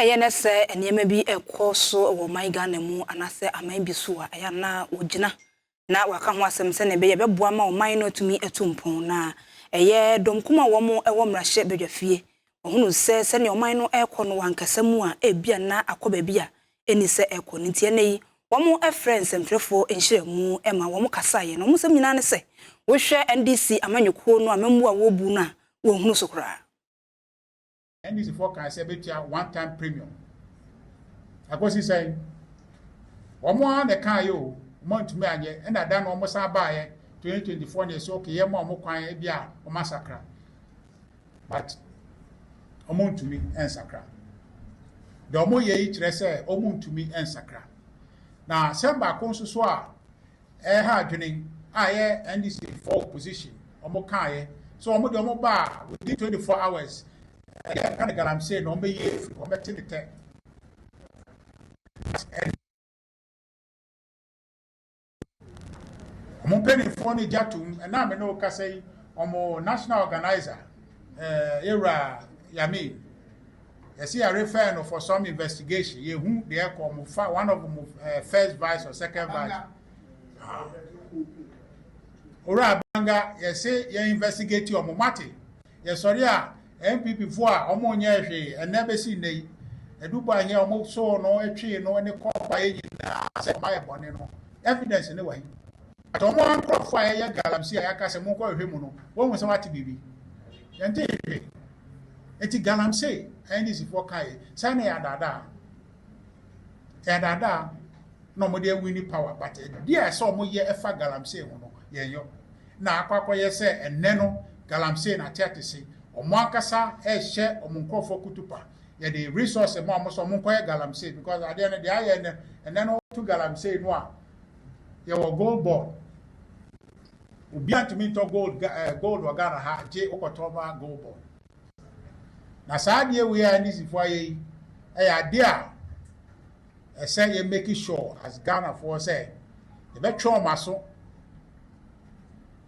Ɛyɛ nnɛ sɛ nneɛma bi rekɔ so wɔ ɔman Ghana mu anaasɛ aman bi so a, ɛyɛ a na wɔgyina na wɔaka ho asɛm sɛnea ɛbɛyɛ a ɛbɛboa ama ɔman no atumi atu mpɔn. Na ɛyɛ dɔm kumaa a wɔwɔ mmarahyɛ badwafie. Wɔhunuu sɛ sɛnea ɔman no rekɔ no, wɔ ankasa mu a, ebia na akɔ baabi a enni sɛ ɛrekɔ no. Enti ɛnnɛ yi, wɔfrɛɛ nsɛmtwerɛfoɔ nhyiamu ma wɔkasaeɛ. Na wɔn nsɛm nyinaa ne sɛ, Wohwɛ NDC amanyɔkuo no a, mmamu a wɔrebu no a, wɔnhunu so koraa. NDC foɔ kan sɛ bɛtua one time premium. Akɔsi sɛn? Wɔn ara na ɛkaa yɛ o, wɔn antumi anyɛ, ɛna da no wɔn san baayɛ 2024 na ɛsɛ okay yɛ ma wɔn kwan ebi a wɔn asakra. But wɔn ntumi nsakra. Deɛ wɔn yɛ yi kyerɛ sɛ wɔn ntumi nsakra. Na sɛm baako nso so a Ɛha adwene a ɛyɛ NDC foɔ opposition wɔn kaeɛ sɛ wɔn deɛ wɔn baa within 24 hours ɛyɛ ɛka ne galamsey na wɔn bɛyi afiri wɔn bɛte ne tɛ. Wɔn mpanimfoɔ no gya tom ɛna me ne wo kasa yi wɔn national organizer ɛɛ yɛwura Yamin. yɛse yɛ refer no for some investigation yɛ hu deɛ ɛkɔ ɔmo fa one of ɔmo eh, first vice or second vice ah. owura abanga yɛse yɛ investigate ɔmo mate yɛsɔre a npp fo a ɔmo nyɛ hwee ɛnɛ bɛsi nnɛ yi ɛdubɔ ahia ɔmo soo no ɛtwee no ne kɔɔpa yɛ nyinaa sɛ ɔma yɛ bɔne no evidence ne wɔ he But wɔn ara nkurɔfoɔ a yɛyɛ galamsey a yɛaka sɛ monkɔhwehwɛ mu no, wɔahu sɛ wɔate biribi? Yɛntee hwee. Enti galamsey a NDCfoɔ kae yi, saa na ɛyɛ adaadaa? Ɛyɛ adaadaa na wɔde awini power but adudeɛ a ɛsɛ wɔyɛ ɛfa galamsey ho no, yɛnyɔ. Na akɔ akɔyɛ sɛ ɛnnɛ no galamsey no ateatese. Wɔn ankasa rehyɛ wɔn nkurɔfoɔ kutupa. Yɛde resource ma wɔn sɛ wɔnkɔyɛ galamsey because adeɛ no deɛ ayɛ ɛnnɛ, ɛnnɛ no woto galamsey no a, yɛwɔ gold board obi antumi ntɔ gold eh, gold wɔ ghana ha gye wokɔtɔ ma gold board na saa adeɛ wei a ndisifoɔ ayɛ yi ɛyɛ adeɛ a ɛsɛ yɛ make sure as ghanafoɔ sɛ yɛbɛtwe wɔn aso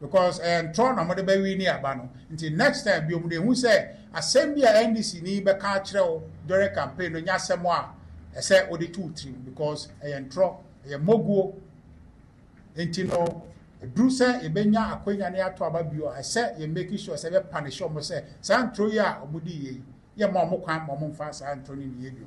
because ɛyɛ eh, ntorɔ na wɔde bɛwi ne aba no nti next time bi wɔn de ehu sɛ asɛm bi a ndc ni bɛka akyerɛ wo during campaign no nyɛ asɛm a ɛsɛ wɔde tu tirim because ɛyɛ eh, ntorɔ. ɛyɛ mmɔguo. Enti no, ɛduru sɛ yɛbɛnya akwanya ne ato aba bio a, ɛsɛ yɛ make sure sɛ yɛbɛpanishe wɔn sɛ saa ntoro yi a wɔdii yɛ yi, yɛmma wɔn kwan ma wɔmfa saa ntoro no nniyɛ bio.